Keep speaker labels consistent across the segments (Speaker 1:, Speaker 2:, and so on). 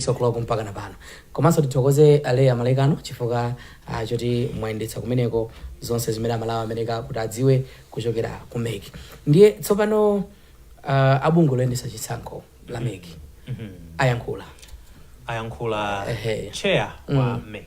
Speaker 1: 6 oclock mpaka na pano komanso tithokoze a Leah Malekano chifukwa choti mwayendetsa kumeneko zonse zimene amalawi ameneka kuti adziwe kuchokera ku mec ndiye tsopano uh, abungwe loyendetsa chisankho la mec ayankhula ayankhula Ehe.
Speaker 2: chair wa mec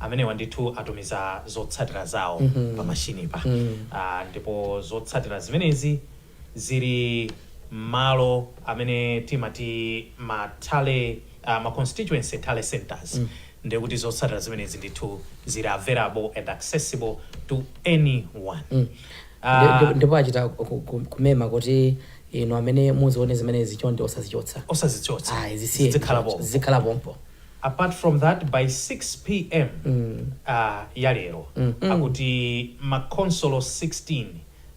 Speaker 2: Amenewa ndithu atumiza zotsatira zawo pa mashinipa ndipo zotsatira zimenezi zili mmalo amene timati ma tally ma constituency tally centres ndekuti zotsatira zimenezi ndithu zili available and accessible to anyone.
Speaker 1: Ndipo achita kumema kuti inu amene muzione zimenezi chonde osazichotsa. Osazichotsa. Ayi zisiyeni. Zizikhala pompo. Zizikhala pompo. apart from
Speaker 2: that by 6 pm uh, ya lero akuti makhonsolo 16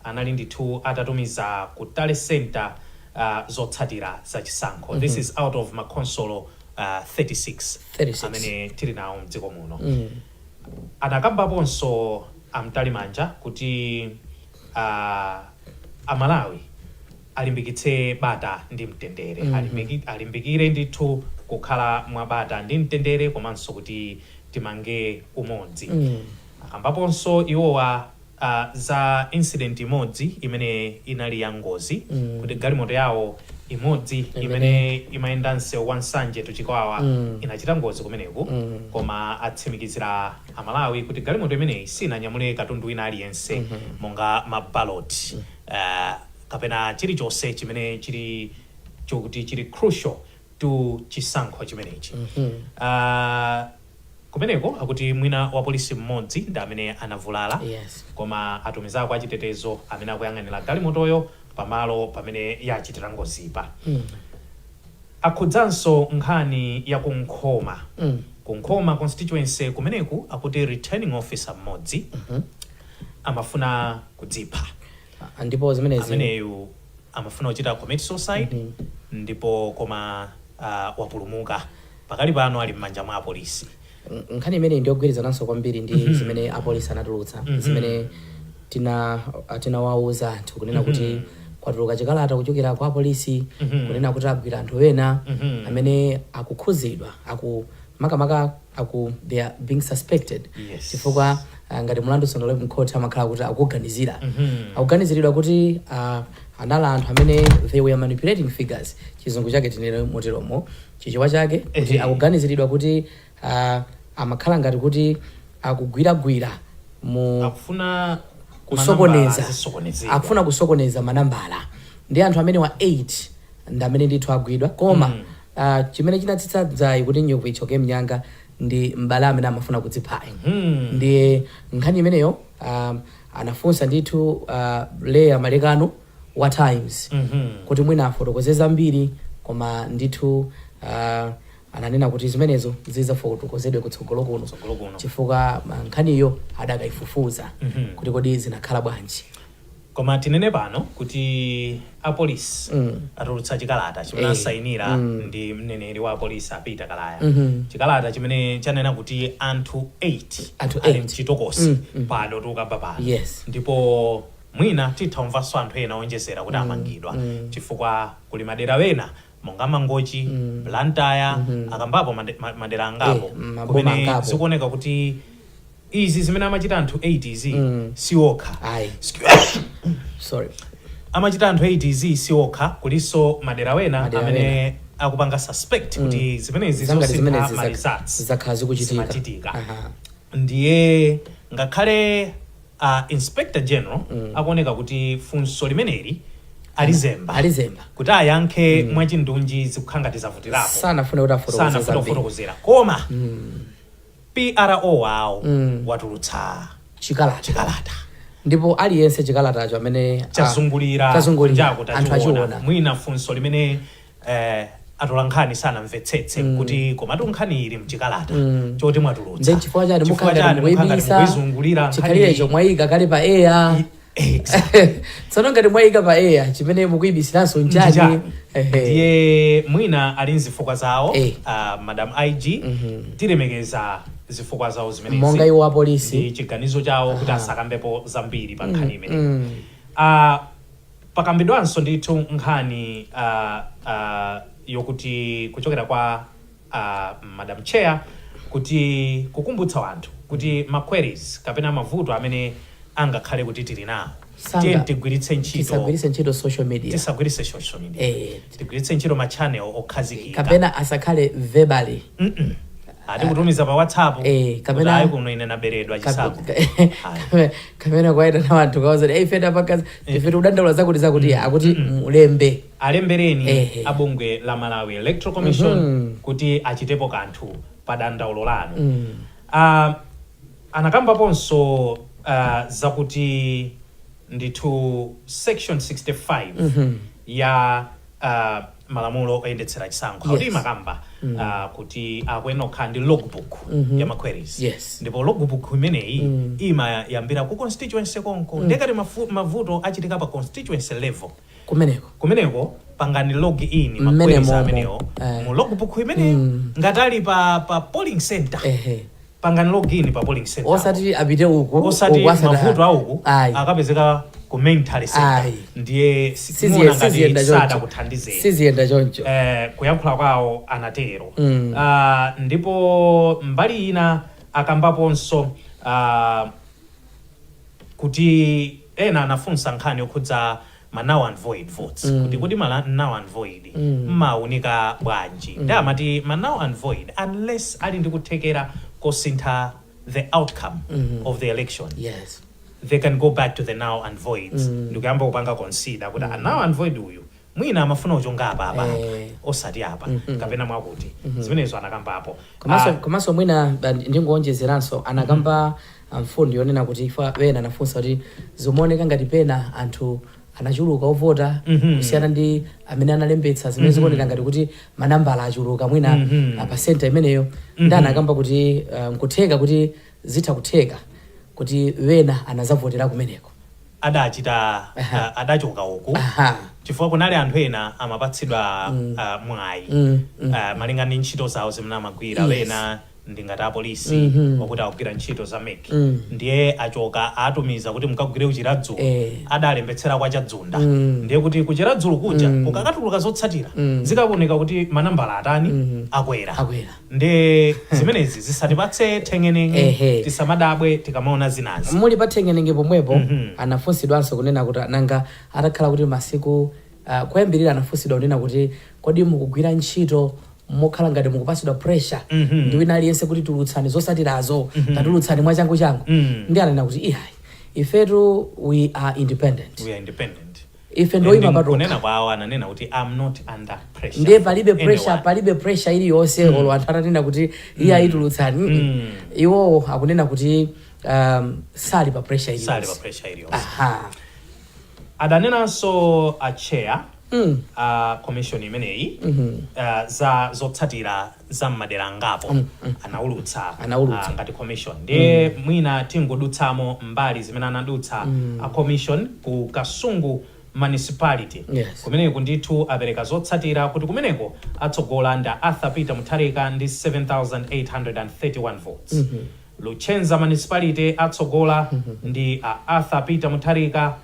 Speaker 2: anali ndithu atatumiza ku tally center uh, zotsatira za chisankho this is out of makhonsolo uh, 36, 36. amene tili nawo mdziko muno anakambaponso a Mtalimanja kuti uh, amalawi alimbikitse bata ndi mtendere, alimbiki, alimbikire ndithu kukhala mwa bata ndi mtendere komanso kuti timange umodzi. Akambaponso iwowa ah, za incident imodzi imene inali ya ngozi kuti galimoto yawo imodzi imene imayenda msewu wa Nsanje to Chikwawa inachita ngozi kumeneku koma atsimikizira Amalawi kuti galimoto imeneyi sinanyamule katundu wina aliyense monga mabaloti ah, kapena chilichonse chimene chili chokuti chili crucial to chisankho chimenechi. Ah, kumeneko akuti mwina wapolisi mmodzi ndi amene anavulala, Yes. koma atumizako achitetezo amene akuyang'anira galimotoyo pamalo pamene yachitira ngozipa. Akhudzanso nkhani ya ku Nkhoma. Ku Nkhoma constituency kumeneku akuti returning officer mmodzi amafuna kudzipha. Ah,
Speaker 1: ndipo zimenezi
Speaker 2: ameneyu amafuna kuchita commit suicide ndipo koma ah, wapulumuka pakali pano ali m'manja mwa apolisi N- nkhani imeneyi
Speaker 1: ndiyogwirizananso kwambiri ndi zimene apolisi anatulutsa zimene tina ah, tinawauza anthu kunena kuti kwatuluka chikalata kuchokera kwa apolisi kunena kuti agwira anthu ena amene akukhudzidwa aku makamaka aku they are being suspected Yes. chifukwa ah, ngati mulandu sunalowe mkhoti amakhala kuti akuganizira akuganiziridwa kuti ah, anali anthu amene they were manipulating figures chizungu chake tinene moteromo chichewa chake kuti Ehe. akuganiziridwa kuti ah, amakhala ngati kuti akugwiragwira mu akufuna kusokoneza zisokonezeka akufuna kusokoneza manambala ndi anthu amenewa 8 ndi amene ndithu agwidwa koma a Chimene chinatsitsa dzaye kuti njovu ithyoke mnyanga ndi m'bale amene amafuna kudziphayo. Ndiye nkhani imeneyo a anafunsa ndithu Leah Malekano wa Times kuti mwina afotokoze zambiri koma ndithu a ananena kuti zimenezo zidzafotokozedwe kutsogolo kuno Kutsogolo kuno. chifukwa nkhaniyo adakaifufuza kuti kodi zinakhala bwanji. koma
Speaker 2: tinene pano kuti apolisi atulutsa chikalata chimene Eh, asayinira ndi mneneri wa apolisi a Peter Kalaya chikalata chimene chanena kuti anthu 8 Anthu eight. ali mchitokosi pano tikukamba pano Yes. ndipo mwina titha kumvanso anthu ena onjezera kuti amangidwa chifukwa kuli madera ena monga mangochi blantyre akambapo made- ma- madera angapo Eh, maboma kumene angapo. zikuoneka kuti izi zimene amachita anthu 8 izi si okha Ayi. sorry amachita anthu 8 izi si okha kulinso madera wena amene akupanga suspect kuti zimenezi zangati zosintha zimenezi ma zak- results zakhala zikuchitika
Speaker 1: zimachitika
Speaker 2: Aha. ndiye ngakhale uh, inspector general akuoneka kuti funso limeneli alizemba alizemba kuti ayankhe mwachindunji zikukhala ngati zavutirapo sanafune kuti afotokoze sanafuna
Speaker 1: zambiri kufotokozera koma
Speaker 2: PRO wawo watulutsa chikalata chikalata
Speaker 1: ndipo aliyense chikalatacho amene ah, chazungulira
Speaker 2: chazungulira kunjaku anthu tachiona achiona
Speaker 1: mwina
Speaker 2: funso limene eh, atolankhani sanamvetsetse kuti komatu nkhani ili mchikalata choti mwatulutsa nde chifukwa chani Chifukwa
Speaker 1: mukhangati chani mukhangati mukuyibisa
Speaker 2: mukuizungulira nkhani iyi? chikhalirecho
Speaker 1: mwayika kale pa air tsono ngati mwayika pa air chimene mukuyibisiranso nchani Nchani? Ehe.
Speaker 2: ndiye mwina ali nzifukwa zawo Eh. ah, madam ig tilemekeza zifukwa zawo zimenezi monga iwo
Speaker 1: apolisi ndi chiganizo
Speaker 2: chawo kuti asakambepo zambiri pa nkhani imeneyi Mm. Ah, pakambidwanso ndithu nkhani ah, ah, yokuti kuchokera kwa a madam chair kuti kukumbutsa wanthu kuti ma queries kapena mavuto amene angakhale kuti tili nawo Sanga- tiye tigwiritse ntchito tisagwiritse ntchito
Speaker 1: social media tisagwiritse social
Speaker 2: media Eh. tigwiritse ntchito ma channel okhazikika kapena
Speaker 1: asakhale verbally Mm-mm.
Speaker 2: ati kutumiza pa whatsapp Eh, kapena- kuti ayi
Speaker 1: kuno ine
Speaker 2: naberedwa chisankho Ayi.
Speaker 1: kapena kuitana wanthu a wailesi atolankhani ife tikudandaula zakuti zakuti akuti mulembe alembereni
Speaker 2: Ehe. a bungwe la malawi electoral commission Mhm. kuti achitepo kanthu pa dandaulo lanu Mm. Ah, anakambaponso ah, zakuti ndithu section 65 Mhm. ya ah, malamulo oyendetsera chisankho Yes. kuti imakamba ah, kuti akuyenera kukhala ndi logbook Mhm. ya ma queries Yes. ndipo logbook imeneyi Mm. imayambira ku constituency konko nde ngati mafu- mavuto achitika pa constituency level kumeneko. kumeneko pangani log in ma queries amenewo Eh. mu logbook imeneyo Mm. ngati ali pa, pa polling center Ehe. pangani log in pa polling center Osati apite uko.
Speaker 1: osati uko asada- mavuto
Speaker 2: auku Ayi. akapezeka ku main tally center Ayi. ndiye si- Siziye- muona ngati siziyenda sada choncho. kuthandizani Siziyenda choncho.
Speaker 1: eh, kuyankhula
Speaker 2: kwawo anatero Mm. Ah, ndipo mbali ina akambaponso ah, kuti ena anafunsa nkhani yokhudza ma null and void votes mm. kuti kodi ma null and void mm. mmaunika bwanji mm. nde amati ma null and void unless ali ndi kuthekera kosintha the outcome mm. of the election yes they can go back to the null and voids mm. ndikuyamba kupanga consider kuti mm. null and void uyu mwina amafuna kuchonga apa apa apa, Eh. osati apa kapena mwakuti zimenezo anakambapo komanso Ah, komanso mwina
Speaker 1: ba- ndingoonjezeranso anakamba ah, mfundo yonena kuti ifa wena anafunsa kuti zimaoneka ngati pena anthu anachuluka ovota Mhm. kusiyana ndi amene analembetsa zimene zikuoneka ngati kuti manambala achuluka mwina Mhm. ah, pasenta imeneyo nde anakamba kuti ah, nkutheka kuti zitha kutheka kuti wena anazavotera kumeneko. adachita Aha.
Speaker 2: ah, adachoka uku Aha. chifukwa kunali anthu ena amapatsidwa ah, mwayi Mm, mm. Ah, malinga ndi ntchito zawo zimene amagwira Yes. wena ndingati apolisi Mhm. okuti akugwira ntchito za MEC Mm. ndiye achoka atumiza kuti mukagwire ku Chiradzulu Eh. adalembetsera kwa Chadzunda Mm. ndiye kuti ku Chiradzulu kuja kukakatuluka zotsatira Mm. zikakaoneka kuti manambala atani Mm. akwera akwera nde zimenezi zisatipatse nthengenenge Ehe. tisamadabwe tikamaona zinazi muli pa
Speaker 1: nthengenenge pomwepo Mhm. anafunsidwanso kunena kuti nanga atakhala kuti masiku uh, kuyambirira anafunsidwa kunena kuti kodi mukugwira ntchito mokhala ngati mukupatsidwa pressure Mhm. ndi wina aliyense kuti tulutsani zotsatirazo tatulutsani mwachangu changu Mhm. nde ananena kuti iyayi ifetu we are independent we are independent ife ndi oyima patokha kunena kwawo ananena kuti
Speaker 2: I'm not under pressure ndiye palibe from pressure
Speaker 1: anyone. palibe pressure iliyonse olo anthu atanena kuti iyayi tulutsani Mm. iwowo akunena kuti um, sali pa pressure sali pa iliyonse pressure iliyonse
Speaker 2: aha adanenanso a chair Mm. a commission imeneyi uh, za zotsatira za m'madera angapo mm, mm. anaulutsa anaulutsa uh, ngati commission ndiye mm. mwina tingodutsamo mbali zimene anadutsa mm. a commission ku kasungu municipality yes. kumeneko ndithu apereka zotsatira kuti kumeneko atsogola ndi a arthur peter mutharika ndi 7831 votes mm -hmm. luchenza municipality atsogola mm -hmm. ndi uh, arthur peter mutharika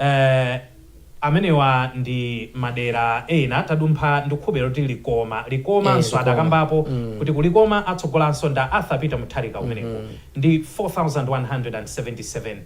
Speaker 2: Eeeh amenewa ndi madera ena tadumpha ndikhulupirira kuti Likoma, Likoma Eeh nso Likoma adakambapo mm. kuti ku Likoma atsogolanso ndi a Arthur Peter Mutharika kumeneko mm-hmm. ndi 4177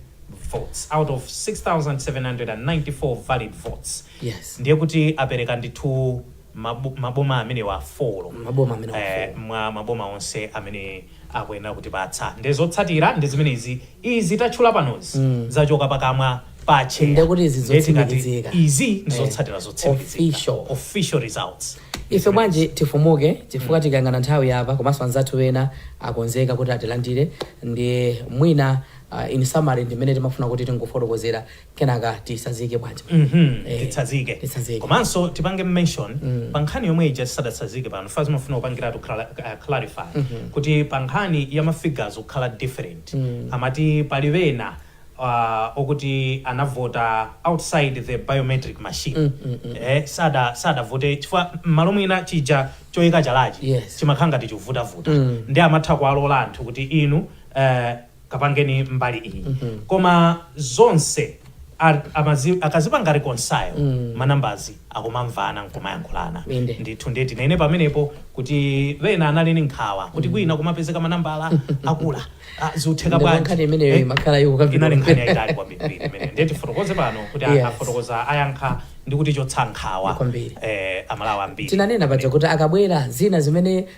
Speaker 2: votes out of 6794 valid votes Yes. ndiye kuti apereka ndithu mabu, maboma amenewa 4 Maboma amenewa eh, 4. mwa maboma onse amene akuyenera kutipatsa. Ndiye zotsatira ndi zimenezi, izi tatchula panozi zachoka pakamwa pa atcheya. Ndiye kuti izi Ndiye
Speaker 1: tikati zotsimikizika. izi ndi Eh, zotsatira
Speaker 2: zotsimikizika. official. Official results. ife
Speaker 1: bwanji tifumuke chifukwa tikayang'ana nthawi yatha komanso anzathu ena akonzeka kuti atilandire ndiye mwina uh, in summary ndimene timafuna kuti tingofotokozera kenaka titsazike bwanji Mhm, eh,
Speaker 2: titsazike titsazike komanso tipange mention Mm. pa nkhani yomwe ija tisadatsazike pano chifukwa ndimafuna kupangiratu cla- uh, clarify Mhm. kuti pa nkhani ya mafigures kukhala different Mm. amati pali wena uh, okuti anavota outside the biometric machine Mm, mm, mm. eh, sada sadavote chifukwa m'malo mwina chija choyika chalachi Yes. chimakhala ngati chikuvutavuta Mm. ndiye amatha kuwalola anthu kuti inu eh, kapangeni mbali iyi koma zonse a- amazi- akazipanga reconcile manambalazi akumamvana nkumayankhulana Inde. ndithu ndiye tinene pamenepo kuti wena anali ni nkhawa kuti kwina kumapezeka manambala akwera Ah, zikutheka Ndipo bwanji nkhani imeneyo Eh, imakhala ikukambidwa. inali nkhani yayitali kwambiri imene ndiye tifotokoze pano kuti Yes. afotokoza ayankha ndi kuti chotsa nkhawa Kwambiri. eh, Amalawi ambiri tinanena paja kuti akabwera
Speaker 1: zina zimene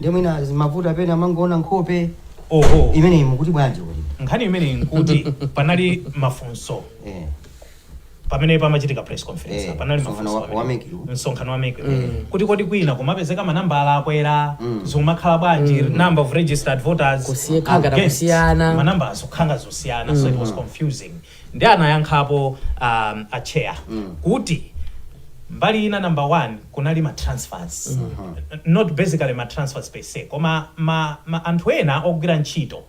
Speaker 3: ndiye mwina zimavuta pena amangoona nkhope oho imeneyi mukuti bwanji kuti nkhani imeneyi nkuti
Speaker 2: panali mafunso eh pamene pamachitika press conference Eh, panali msonkhano mafunso wa- pamene- wa MEC. msonkhano wa MEC. kuti kodi kwina kumapezeka manambala akwera zikumakhala bwanji number of registered voters Kusiye- kukhala against. kusiyana.
Speaker 1: manambala zikukhala
Speaker 2: zosiyana so it was confusing nde anayankhapo um, a chair kuti mbali ina number one kunali ma transfers N- not basically ma transfers per se koma ma, ma anthu ena ogwira ntchito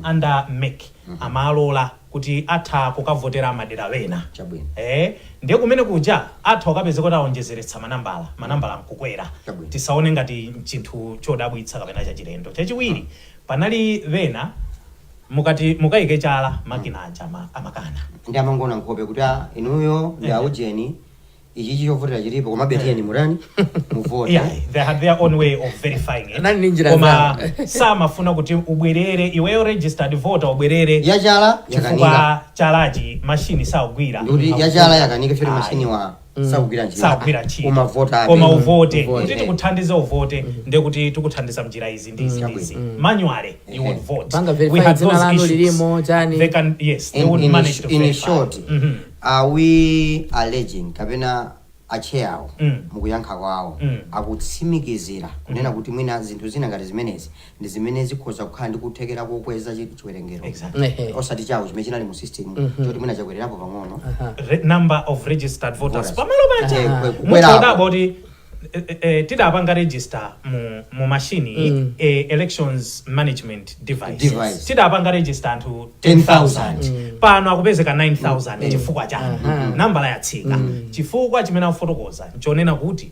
Speaker 2: under MEC amalola kuti atha kukavotera madera wena Chabwino. eh, ndiye kumene kuja atha kukapeza kuti aonjezeretsa manambala manambala nkukwera Chabwino. tisaone ngati chinthu chodabwitsa kapena chachilendo chachiwiri panali wena Mukati mukaike chala makina aja amakana. Nde amangoona
Speaker 3: nkhope kuti aa inuyo ndi a ujeni ichichi chovotera chilipo komabe tiyeni mutani muvote. Iyayi, they had their own
Speaker 2: way of verifying it. Anali ndi njira Koma zawo. samafuna kuti ubwerere iweyo registered voter ubwerere Yachala yakanika. chifukwa chalachi machine sakugwira. Ndikuti yachala yakanika
Speaker 3: choti Ayi. machine wa sakugwira ntchito sagwira ntchito koma vota abe. koma uvote Uvote.
Speaker 2: kuti tikuthandize uvote ndiye kuti tikuthandiza mnjira izi ndi izi ndi izi manually you would vote Apanga verify We had dzina those lanu issues.
Speaker 1: lilimo, chani. they can
Speaker 2: yes they in, would in, manage to in verify.
Speaker 3: short Mhm. are we alleging kapena acheya awo Mm. mukuyankha kwawo Mm. akutsimikizira kunena kuti mwina zinthu zina ngati zimenezi ndi zimene zikhoza kukhala ndi kuthekera kokweza chi- chiwerengero Exactly. Ehe. osati chawo chimene chinali mu system choti mwina chakwererapo pang'ono Aha. Re- number of
Speaker 2: registered voters Voters. pamalo paja Eh, kwe- mutha kukwerapo. kudabwa kuti eh, eh, eh, tidapanga register mu, mu mashini Mm. eh, elections management device, Device. tidapanga register anthu 10,000 10,000. pano akupezeka 9000 chifukwa chani Aha. nambala yatsika chifukwa chimene akufotokoza nchonena kuti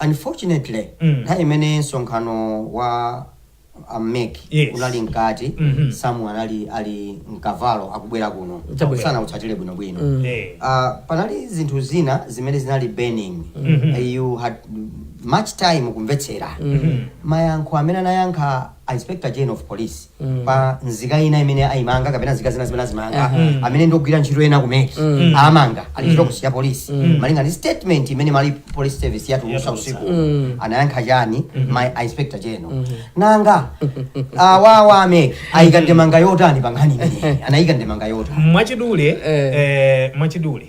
Speaker 1: Unfortunately
Speaker 3: Mm. nthawi imene msonkhano wa a mec Yes. unali mkati Mhm. Sam anali ali mkavalo akubwera kuno Chabwino. sanautsatire bwinobwino Eh. Ah, panali zinthu zina zimene zinali burning Mhm. Eh, you had much time kumvetsera Mhm. mayankho amene anayankha inspector general of police pa nzika ina imene ayimanga kapena nzika zina zimene azimanga amene ndogwira ntchito ena ku MEC amanga ali kuchitokosi cha polisi malinga ndi statement imene Malawi police service yatulutsa usiku anayankha chani mayi inspector general nanga awawa a MEC ayika ndemanga yotani pa nkhani imeneyi anayika ndemanga yotani mwachidule Eh. eh,
Speaker 2: mwachidule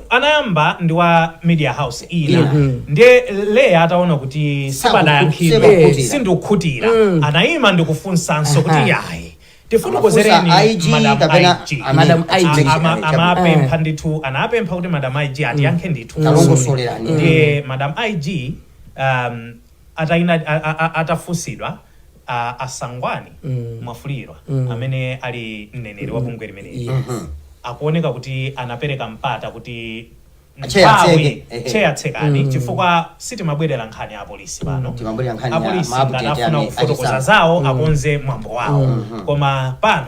Speaker 2: anayamba ndi wa media house ina Yeah. ndiye leya ataona kuti sipadayankhidwe Sikukhutira. sindikhutira anayima ndikufunsanso Aha. kuti yayi tifotokozereni Amafunsa IG madam kapena IG. amene Madam IG. atipeza Ama- chakudya. amapempha ndithu anapempha kuti madam ig atiyankhe ndithu Kalongosolerani. ndiye madam ig um, Ataina, a, a, a, atafunsidwa a, a Sangwani Mwafulirwa amene ali mneneri wa bungwe limeneli Yes. akuoneka kuti anapereka mpata kuti Chair nthawi- atseke, ehe. chair tsekani chifukwa sitimabwerera nkhani ya apolisi pano Timabwerera nkhani ya apolisi ma update ngati afuna ame- kufotokoza achisankho. zawo akonze mwambo wawo koma pano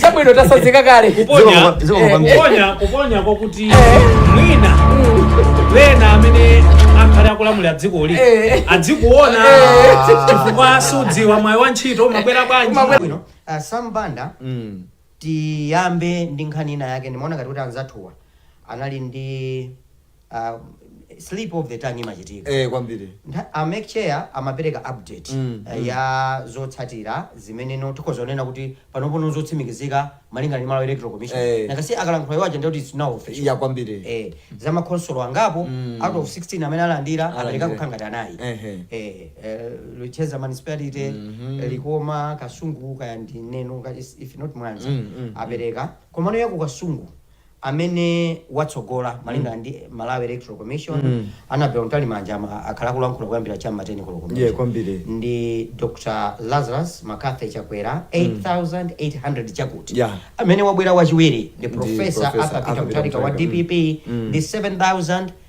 Speaker 1: chabwino tatsanzika kale kuponya Zikomo kwa- kuponya
Speaker 2: kuponya kwakuti mwina wena amene akhale akulamulira dzikoli Eh. adzikuona Eh. chifukwa sudziwa mwayi wa ntchito umabwera bwanji Umabwera- bwino uh, sam
Speaker 3: banda Mm. tiyambe ndi nkhani ina yake ndimaona ngati kuti anzathuwa anali ndi ah, slip of the tongue imachitika eh kwambiri Ntha-
Speaker 4: a MEC
Speaker 3: chair amapereka update Mm, eh, ya zotsatira zimene no tikhoza kunena kuti panopono zotsimikizika malingana ndi Malawi electoral commission Eh. because akalankhula iwo aja ndikuti it's now official ya kwambiri
Speaker 4: eh, za
Speaker 3: makonsolo angapo Mm. out of 16 amene alandira Alandira. apereka kukhala ngati anayi Ehe. eh, eh, Luchenza municipality Mhm. likoma kasungu kaya ndi neno ka- is- if not mwanza Mm, mm, apereka komano yaku kasungu amene watsogola malingana ndi Malawi Electoral Commission Annabel Mtalimanja a ma- akhala akulankhula kuyambira cha ma 10 koloko Yeah, kwambiri.
Speaker 4: ndi Dr
Speaker 3: Lazarus McCarthy Chakwera 8800 chakuti Yeah. amene wabwera wachiwiri ndi Professor Professor Arthur Peter Arthur Peter Mutharika wa Mutharika, mm. DPP ndi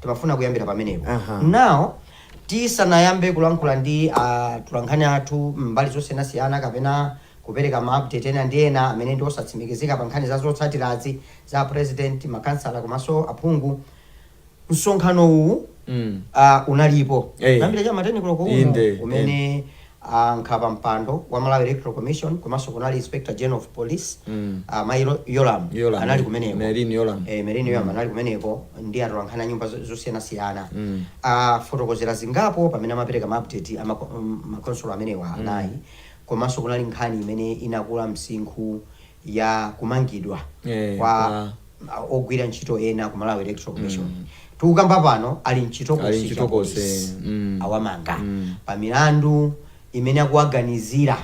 Speaker 3: Timafuna kuyambira pamenepo. Aha. Now tisanayambe kulankhula ndi atolankhani athu m'mbali zosiyanasiyana kapena kupereka ma update ena ndi ena amene ndi osatsimikizika pa nkhani za zotsatirazi za president, makhansala komanso aphungu. Msonkhano uwu Mm. ah, unalipo Eh. kuyambira cha ma 10 koloko uno Inde, umene a nkhapampando wa Malawi Electoral Commission komanso kunali Inspector General of Police mm. a Mai Yolamu, Yolamu anali kumeneko Merlyne Yolamu, eh, Merlyne Yolamu mm. anali kumeneko ndi atolankhani a nyumba zosiyanasiyana mm. afotokozera zingapo pamene amapereka maupdate a makonsolo amenewa mm. anayi mm. komanso kunali nkhani imene inakula msinkhu ya kumangidwa eh, kwa kwa ogwira ntchito ena ku Malawi Electoral Commission tikukamba pano ali Ali mchitokosi mchitokosi, cha polisi. mm. awamanga pa milandu imene akuwaganizira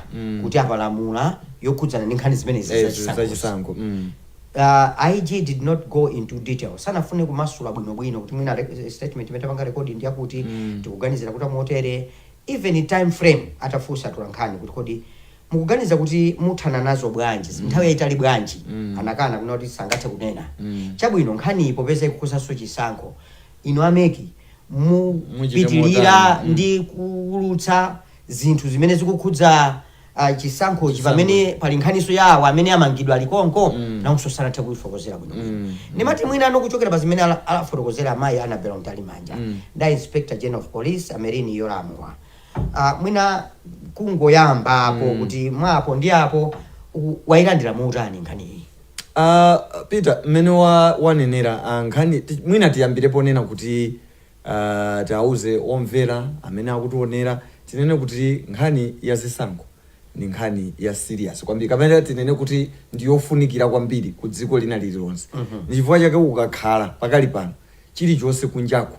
Speaker 3: kuti apalamula yokhudzana ndi nkhani zimenezi eh, zachisankho zachisankho mm. uh, IG did not go into detail sanafune kumasula bwinobwino kuti mwina re- statement imene tapanga rekodi ndi yakuti tikuganizira kuti amotere even time frame atafunsa atolankhani kuti kodi Mukuganiza kuti muthana nazo bwanji? mm. Nthawi yayitali bwanji? mm. Anakana kunena kuti sangathe kunena. mm. Chabwino, nkhaniyi popeza ikukhudzanso chisankho, inu a MEC mupitilira mm. ndi kuwulutsa zinthu zimene zikukhudza uh, chisankhochi pamene pali nkhaniso ya awa amene amangidwa ali konko mm. nawonso sanathe kuyifokozera bwino mm. ndimati mwina a Noel kuchokera pa zimene alafotokozera amayi Annabel Mtalimanja mm. nda Inspector General of Police a Merlyne Yolamu a Uh, mwina kungoyambapo mm. kuti mwa apo ndi apo wailandira motani nkhaniyi uh, ah, Peter
Speaker 4: mmene wanenera wa uh, nkhani mwina tiyambirepo kunena kuti uh, ah, tiauze omvera amene akutionera tinene kuti nkhani ya zisankho ni nkhani ya serious kwambiri kapena tinene kuti ndiyofunikira kwambiri ku dziko lina lililonse mm -hmm. ni chifukwa chake ukakhala pakali pano chilichonse kunjako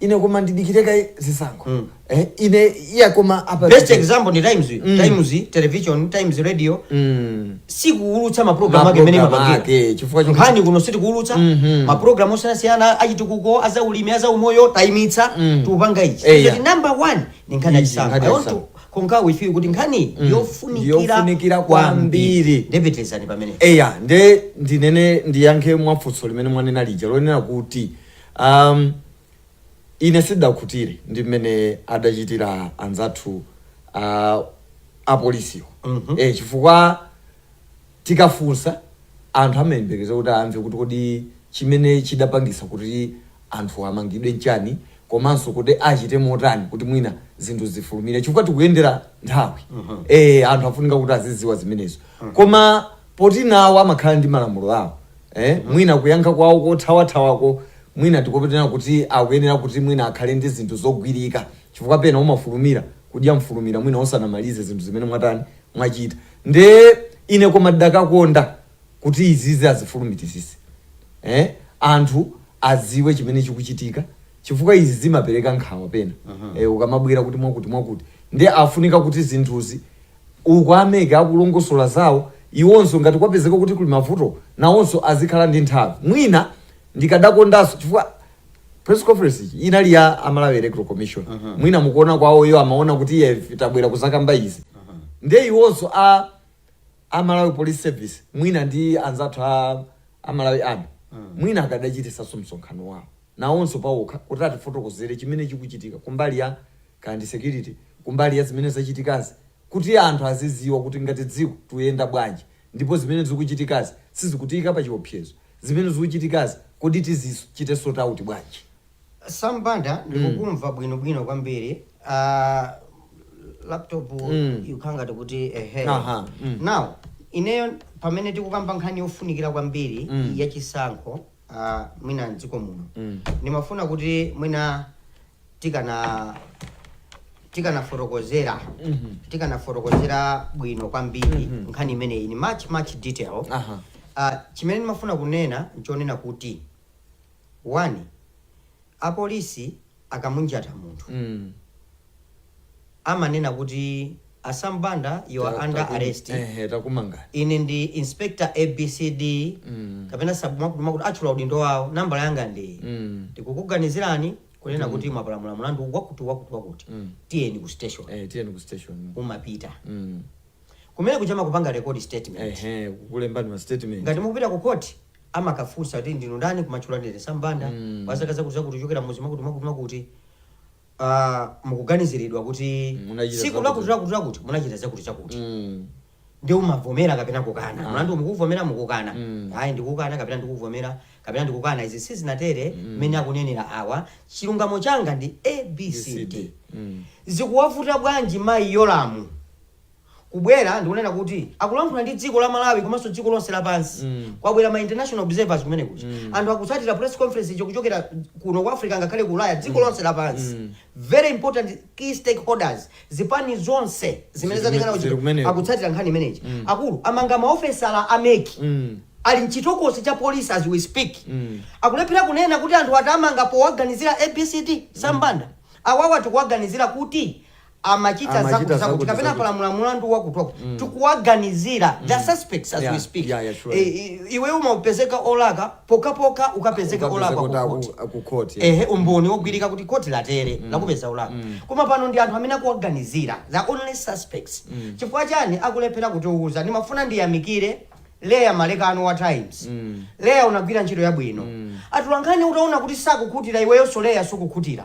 Speaker 4: ine koma ndidikire kaye zisankho Mm. eh, ine iya koma apa best example ni
Speaker 3: Times Mm. Times Television Times Radio Mm. sikuulutsa maprogramu ake mene Maprogramu mapangira ake, chifukwa choti- nkhani kuno
Speaker 4: sitikuulutsa
Speaker 3: Mhm. maprogramu osiyanasiyana achitukuko azaulimi azaumoyo tayimitsa Mm. tikupanga ichi Eya. Kuti number one ni nkhani Izi, yachisankho nkhani I want yachisankho. to concur with you kuti nkhani Mm. yofunikira Yofunikira kwambiri. nde pitirizani pamene eya nde
Speaker 4: ndinene ndiyankhe mwa funso limene mwanena lija lonena kuti Um, ine sidakhutire ndi mmene adachitira anzathu uh, apolisiwo mm -hmm. e, chifukwa tikafunsa anthu amayembekeza kuti amve kuti kodi chimene chidapangisa kuti anthu amangidwe nchani komanso kuti achite motani kuti mwina zinthu zifulumire chifukwa tikuyendera nthawi mm -hmm. e, anthu afunika kuti aziziwa zimenezo mm -hmm. koma poti nawo amakhala ndi malamulo awo eh mwina kuyankha kwawo kothawathawako mwina tikhoza kunena kuti akuyenera kuti mwina akhale ndi zinthu zogwirika chifukwa pena umafulumira kudya mfulumira mwina usanamalize zinthu zimene mwatani mwachita nde ine koma ndidakakonda kuti izizi azifulumizitse eh anthu aziwe chimene chikuchitika chifukwa izi zimapereka nkhawa pena eh ukamabwera kuti mwakuti mwakuti nde afunika kuti zinthuzi uku a MEC akulongosola zawo iwonso ngati kwapezeka kuti kuli mavuto nawonso azikhala ndi nthawi mwina ndikadakondanso chifukwa press conference ija inali ya a Malawi Electoral Commission mwina mkuona kwawo iwo amaona kuti ife tabwera kuzakamba izi ndiye iwonso a a Malawi Police Service mwina ndi anzathu a, a Malawi Army mwina akadachitisanso msonkhano wawo nawonso pawokha kuti atifotokozere chimene chikuchitika kumbali ya kaya ndi security kumbali ya zimene zachitikazi kuti anthu aziziwa kuti ngati dziko tuyenda bwanji ndipo zimene zikuchitikazi sizikutiyika pachiopsezo zimene zikuchitikazi kodi tizichite sort out bwanji. Sam Banda
Speaker 3: ndikukumva bwino bwino kwambiri uh, laptop Mm. ikukhala ngati kuti ehe Aha, mm. now ineyo pamene tikukamba nkhani yofunikira kwambiri Mm. ya chisankho uh, mwina mdziko muno mm. ndimafuna kuti mwina tikana tikanafotokozera mm -hmm. tikanafotokozera bwino kwambiri mm -hmm. nkhani imeneyi in much much detail uh -huh. uh, chimene ndimafuna kunena nchonena kuti one apolisi akamunjata munthu amanena kuti a Sam Banda you are under arrest ine
Speaker 4: ndi
Speaker 3: inspector abcd kapena sub mwakuti mwakuti atchula udindo wawo nambala yanga ndi iyi tikukuganizirani kunena kuti mwapalamula mulandu wakuti wakuti wakuti tiyeni ku station Eh, tiyeni ku station umapita Mm. kumene kuja amakupanga record statement Ehe, kukulembani ma
Speaker 4: statement ngati mukupita ku court
Speaker 3: amakafunsa kuti ndinu ndani kumatchula ndine Sam Banda mm. wa zaka zakuti zakuti kuchokera mudzi mwakuti mwakuti mwakuti uh, mukuganiziridwa kuti siku lakuti lakuti lakuti munachita zakuti zakuti mm. ndiye umavomera kapena kukana ah. mlandu mukuvomera mukukana mm. ayi ndikukana kapena ndikuvomera kapena ndikukana izi sizinatere mm. mmene mm. akunenera awa chilungamo changa ndi abcd mm. zikuwavuta bwanji mayi Yolamu kubwera ndikunena kuti akulankhula ndi dziko la malawi komanso dziko lonse lapansi Mm. kwabwera ma international observers kumene kuja Mm. anthu akutsatira press conference iyo kuchokera kuno ku africa ngakhale ku ulaya dziko lonse lapansi Mm. very important key stakeholders zipani zonse zimene Zili- zatengana zili kumeneko. akutsatira nkhani imeneyi Mm. akuluakulu amanga maofesala a MEC Mm. ali mchitokosi cha polisi as we speak Mm. akulephera kunena kuti anthu atawamanga powaganizira abcd sambanda awawa tikuwaganizira kuti amachita Amachita zakuti zakuti zakuti, kapena zakuti. apalamula mulandu wakuti wakuti Mm. tikuwaganizira the suspects as Yeah, we speak yeah, yeah, sure. Eh, eh, iwe umapezeka olakwa pokhapokha ukapezeka olakwa ku court. kukhoti
Speaker 4: ehe umboni wogwirika
Speaker 3: kuti khoti latere lakupeza olakwa Mm. koma pano ndi anthu amene akuwaganizira the only suspects Mm. chifukwa chani akulephera kutiuza ndimafuna ndiyamikire leya malekano wa times Mm. leya unagwira ntchito yabwino Mm. atulankhani utaona kuti sakukhutira iweyonso leya sukukhutira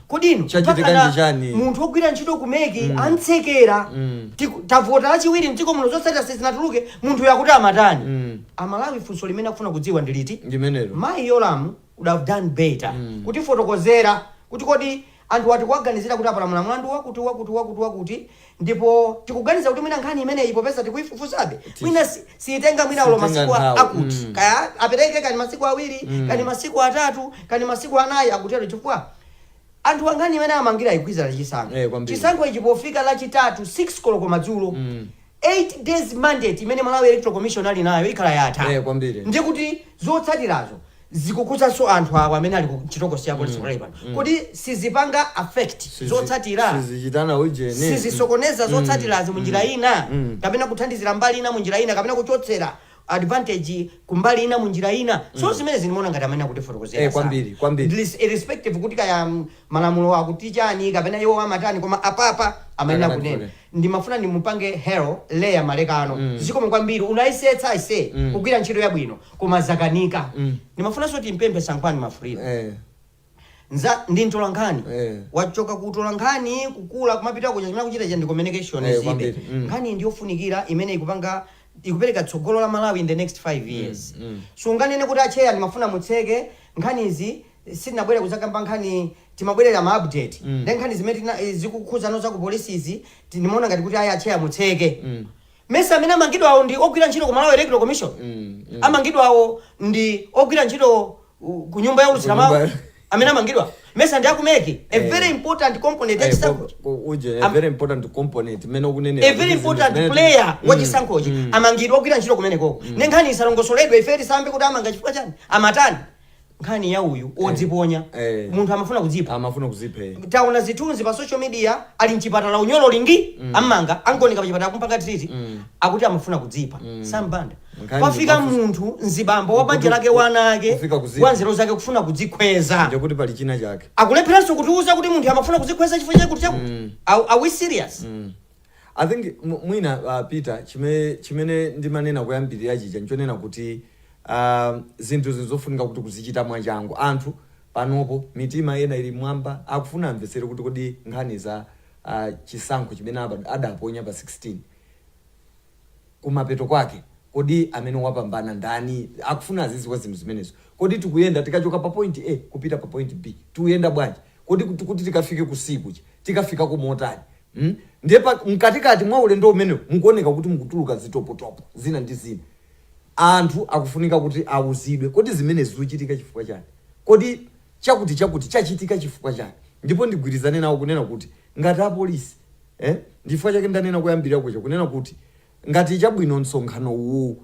Speaker 3: kodi inu Chachitika mpakana ndi chani? munthu wogwira ntchito ku MEC amutsekera Mm. Tiku- tavota lachiwiri mdziko muno zotsatira sizinatuluke munthuyo akuti amatani Mm. amalawi funso limene akufuna kudziwa ndi liti ndimenelo mayi yolamu would have done better Mm. kutifotokozera kuti kodi anthuwa tikuwaganizira kuti apalamula mlandu wakuti wakuti wakuti wakuti Ndipo tikuganiza kuti mwina nkhani imeneyi popeza tikuifufuzabe, mwina si, siitenga mwina olo Siitenga masiku a- nthawi. akuti. Mm. Kaya apereke kaya masiku awiri, kaya masiku atatu, kaya masiku anayi akutero chifukwa anthuwa nkhani imene amangidwira ikugwirizana chisankho. Eh, kwambiri. Chisankho ichi pofika lachitatu 6 koloko madzulo. 8 days mandate imene Malawi Electoral Commission ali nayo ikhala yatha. Eh, kwambiri. Ndikuti zotsatirazo zikukhudzanso anthu awa amene ali ku chitokosi ya polisi pakali pano kodi sizipanga affect Sizi- zotsatira sizichitana ujeni
Speaker 4: sizisokoneza
Speaker 3: zotsatirazi munjira ina Mm. kapena kuthandizira mbali ina munjira ina kapena kuchotsera advantage kumbali ina munjira ina so zimene ine ndimaona ngati amene akutifotokozera Eh, sana. kwambiri, kwambiri. At
Speaker 4: least irrespective
Speaker 3: kuti kaya mm, malamulo akuti chani kapena iwo amatani koma apapa amene Akana akunena kule. ndimafuna ndimupange hail leya malekano zikomo kwambiri unayesetsa aise kugwira ntchito yabwino koma zakanika ndimafunanso ndimpemphe sangwani mwafulirwa Eh. nza ndi mtolankhani Eh. wachoka kutolankhani kuno kumapita kuja chimene akuchita cha ndi communication Eh, zibe kwambiri. Mm. nkhani ndi yofunikira imene ikupanga ikupereka tsogolo la malawi in the next 5 years so sunganene kuti atcheya ndimafuna mutseke nkhanizi sindinabwere kuzakamba nkhani timabwerera ma update nde nkhani zimene tina zikukhudzana za ku police izi ndimaona ngati kuti ayi atcheya mutseke mesa amene amangidwawo ndi ogwira ntchito ku Malawi Electoral Commission amangidwawo ndi ogwira ntchito uh, ku nyumba youlutsira mawu Kunyumba- amene amangidwa mesa ndi aku MEC a very important component ya chisankho
Speaker 4: uje a Am- very important component mene ukunenera a very important
Speaker 3: player wa chisankhochi amangidwa ogwira ntchito kumenekoko nde nkhani isalongosoledwe ife tisamve kuti amanga chifukwa chani amatani nkhani ya uyu odziponya Eh. munthu amafuna kudzipha amafuna kuzipha eh. taona zithunzi pa social media ali mchipatala unyolo lingi ammanga angooneka pachipatala kumpanga triti akuti amafuna kudzipha sambanda Nkhani pafika ndimafu- munthu mzibambo wa banja Kutu- lake wana ake kufika kudzipha. wanzeru zake kufuna kudzikhweza ndiye kuti pali china chake
Speaker 4: akulepheranso kutiuza kuti
Speaker 3: munthu amafuna kudzikhweza chifukwa chakuti chakuti Are- are we serious I
Speaker 4: think mwina Peter chimene chimene ndimanena koyambirira chija n'chonena kuti zinthu zinthu zofunika kuti kuzichita mwachangu anthu panopo mitima ina ili m'mwamba akufuna amvetsere kuti kodi nkhani za chisankho chimene adaponya pa 16 kumapeto kwake kodi amene wapambana ndani akufuna aziziwa zinthu zimenezo kodi tikuyenda tikachoka pa point A kupita pa point B tiyenda bwanji kodi kuti tikafike ku C kuja tikafikako motani Hmm? Ndiye pa mkatikati mwa ulendo umenewu mukuoneka kuti mukutuluka zitopotopo zina ndi zina. Anthu akufunika kuti auzidwe, kodi zimenezi zikuchitika chifukwa chani? Kodi chakutichakuti chachitika chifukwa chani? Ndipo ndigwirizane nawo kunena kuti ngati apolisi, eh, ndi chifukwa chake ndanena koyambirira kuja kunena kuti Ngati chabwino msonkhano uwu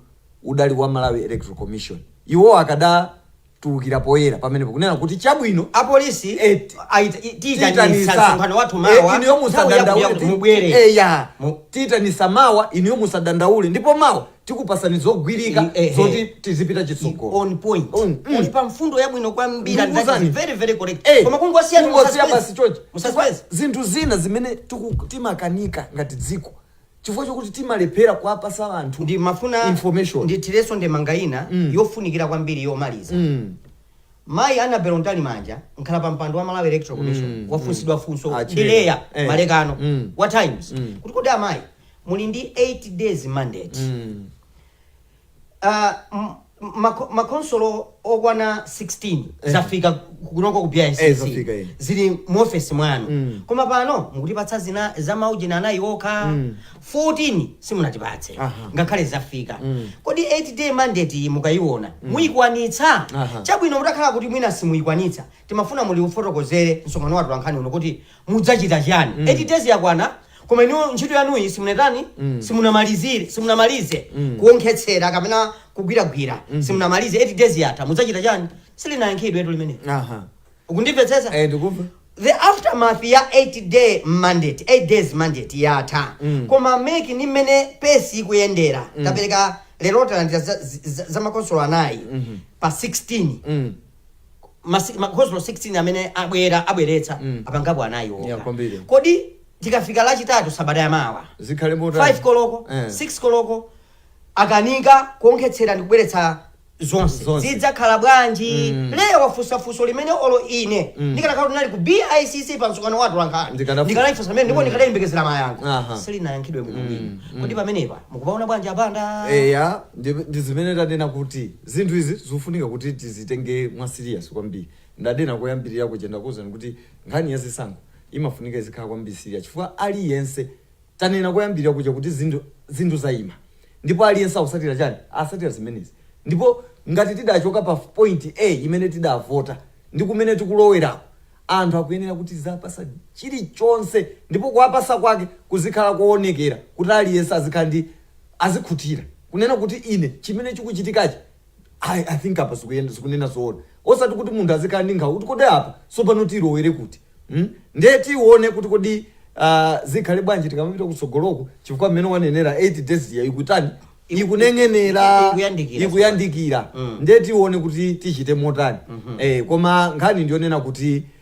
Speaker 4: udali wa Malawi Electoral Commission, iwowo akadatulukira poyera pamenepo kunena kuti chabwino, Apolisi eti,
Speaker 3: aita, i, tiitanitsa tiitanitsa, msonkhano wathu e, mawa, inuyo nthawi yakuti musadandaule, yakuti
Speaker 4: ti, ti, mubwere. Eya, Mu- tiitanitsa mawa, inuyo musadandaule, ndipo mawa tikupatsani zogwirika I- ehe. zoti tizipita I- chitsogolo. on point
Speaker 3: Mm, mm. uli pa mfundo yabwino kwambiri and that is Ndikuzani. very very correct Eh, koma kungosiya kungosiya basi chochi
Speaker 4: mu suspense zinthu zina zimene tiku- timakanika ngati dziko chifukwa chokuti timalephera kuwapasa anthu ndimafuna
Speaker 3: information
Speaker 4: ndithirenso
Speaker 3: ndemanga ina Mm. yofunikira kwambiri yomaliza Mm. mayi Annabel Mtalimanja mkhalapampando wa Malawi Electoral Commission Mm, wafunsidwa funso Ah, ndi chilera. Leah Eh. Malekano Mm. wa Times Mm. kuti kodi amayi muli ndi 8 days mandate Mm. makhonsolo okwana 16 zafika kunoko ku BICC eh, zafika, eh. zili mu office mwanu mm. koma pano mukutipatsa zina za maujeni anayi okha mm. 14 simunatipatse ngakhale zafika mm. kodi 8 day mandate mukayiona mm. muyikwanitsa chabwino mutakhala kuti mwina simuyikwanitsa timafuna muwufotokozere msonkhano wa atolankhani uno kuti mudzachita chiyani? 8 days yakwana koma inuyo ntchito yanuyi simunatani simunamalizire simunamalize kuonkhetsera kapena kugwiragwira simunamalize 8 days yatha mudzachita chani silinayankhidwe tu limene aha ukundimvetsetsa eh
Speaker 4: ndikuva the
Speaker 3: aftermath ya 8 day mandate 8 days mandate yatha Mm. koma MEC ndi mmene pace ikuyendera tapereka lero talandira za, za, za makhonsolo anayi pa 16 mm masi- makhonsolo 16 amene abwera abweretsa Mm. apangapo anayi Yeah, okha kwambiri. kodi tikafika lachitatu sabata yamawa zikhale 5 motani
Speaker 4: koloko
Speaker 3: Eh. 6 koloko akanika kuonkhetsera ndi kubweretsa zonse Zonse. zidzakhala bwanji Mm. lero wafunsa funso limene olo ine Mm. ndikanakhala kuti ndinali ku bicc pa msonkhano wa atolankhani Ndikanafu- ndikanalifunsa limene ndipo Mm. ndikanayembekezera mayankho Aha. silinayankhidwe bwino Mm. bwino Mm. kodi pamenepa mukupaona bwanji apanda eya ndi ndi
Speaker 4: zimene tanena kuti Zinthu izi zikufunika kuti tizitenge mwa serious kwambiri. Ndadena koyambilira kuja ndakuuzani kuti nkhani ya zisankho imafunika izikhala kwambiri serious chifukwa aliyense, tanena koyambilira kuja kuti zinthu zinthu zaima ndipo aliyense akusatira chani? Asatira zimenezi ndipo ngati tidachoka pa point a imene tidavota ndi kumene tikulowerako anthu akuyenera kuti tiziapasa chilichonse ndipo kuwapasa kwake kuzikhala koonekera kuti aliyense azikhala ndi azikhutira kunena kuti ine chimene chikuchitikachi I, I think apa zikuyenda zikunena zoona osati kuti munthu azikhala ndi nkhawa kuti kodi apa sopano tilowere kuti mm? ndiye tione kuti kodi uh, zikhale bwanji tikamapita kutsogoloku chifukwa mmene wanenera 8 days ya ikutani ikuneng'enera Ikuyandikira. ikuyandikira Mm. ndiye tione kuti tichite motani eh, koma nkhani ndiyonena kuti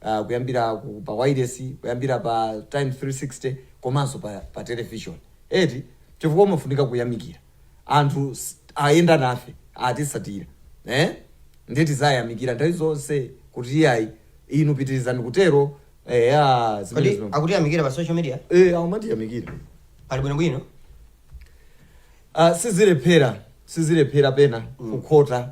Speaker 4: ah, kuyambira ku, pa wailesi kuyambira pa times 360 komanso pa, pa television eti chifukwa umafunika kuyamikira anthu ayenda nafe atisatira eh? ndiye tiziwayamikira nthawi zonse kuti iyayi inu pitirizani kutero eh, ah, kodi
Speaker 3: zimenezo akutiyamikira pa social media eh, amatiyamikira
Speaker 4: pali bwinobwino
Speaker 3: Ah,
Speaker 4: sizilephera sizilephera pena kukhota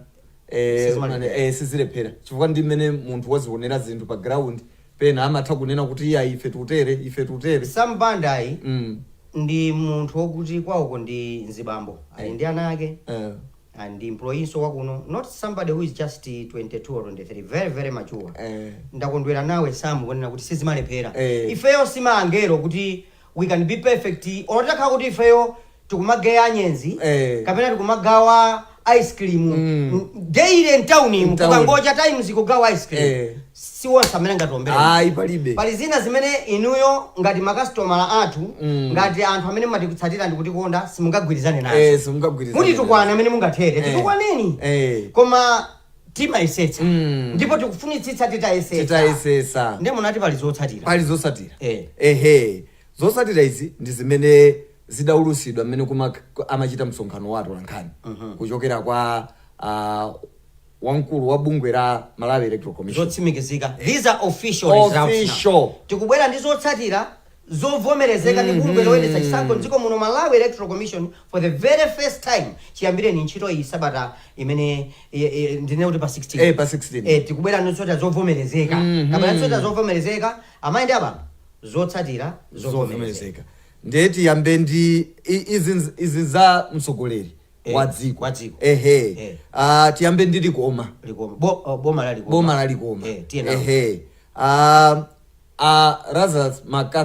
Speaker 4: eh, Sizimalepera. eh, sizilephera chifukwa ndi mmene munthu wazionera zinthu pa ground pena amatha kunena kuti iya ife tutere ife tutere Sam
Speaker 3: Banda-yi mm. ndi munthu wokuti kwawoko ndi mzibambo ali ndi ana ake eh, and ndi employee-nso wakuno not somebody who is just 22 or 23 very very mature eh. ndakondwera nawe samu kunena kuti sizimalephera Eh. ifeyo si maangelo kuti we can be perfect olo titakhala kuti ifeyo tikumageya anyenzi Eh. kapena tikumagawa ice cream mm. daily mtauni Mtauni. mukungocha times kugawa ice cream Eh. si wonse amene angatiombere ayi palibe
Speaker 4: pali zina
Speaker 3: zimene inuyo ngati makasitomala athu Mm. ngati anthu amene mumatitsatira ndikutikonda simungagwirizane nazo Eh, simungagwirizane. mutitukwane
Speaker 4: mmene mungathere
Speaker 3: Eh. titukwaneni Eh. koma timayesetsa Mm. ndipo tikufunitsitsa titayesetsa titayesetsa nde munati pali zotsatira pali zotsatira Eh. ehe
Speaker 4: zotsatira izi ndi zimene zidaulusidwa mmene kuma- ku- amachita msonkhano wa atolankhani kuchokera kwa ah, wamkulu wa bungwe la malawi electoral commission zotsimikizika these are
Speaker 3: official results now. Official. tikubwera ndi zotsatira zovomerezeka ndi bungwe loyendetsa chisankho Mm-hmm. m'dziko muno, Malawi Electoral Commission, for the very first time chiyambireni ntchito iyi sabata imene e, e, ndinene kuti pa 16 Eh, pa 16. eh, tikubwera ndi zotsatira zovomerezeka Mhm. kapena zotsatira zovomerezeka amayi ndi abambo zotsatira zovomerezeka zovomerezeka ndiye
Speaker 4: tiyambe ndi i- izi nz- izi za mtsogoleri Eh, wa dziko wa dziko. ehe Eh. Ah, tiyambe ndi Likoma Likoma Bo- oh, boma la Likoma boma la Likoma Eh, tiye nawo. ehe Ah, ah, Lazarus Maka-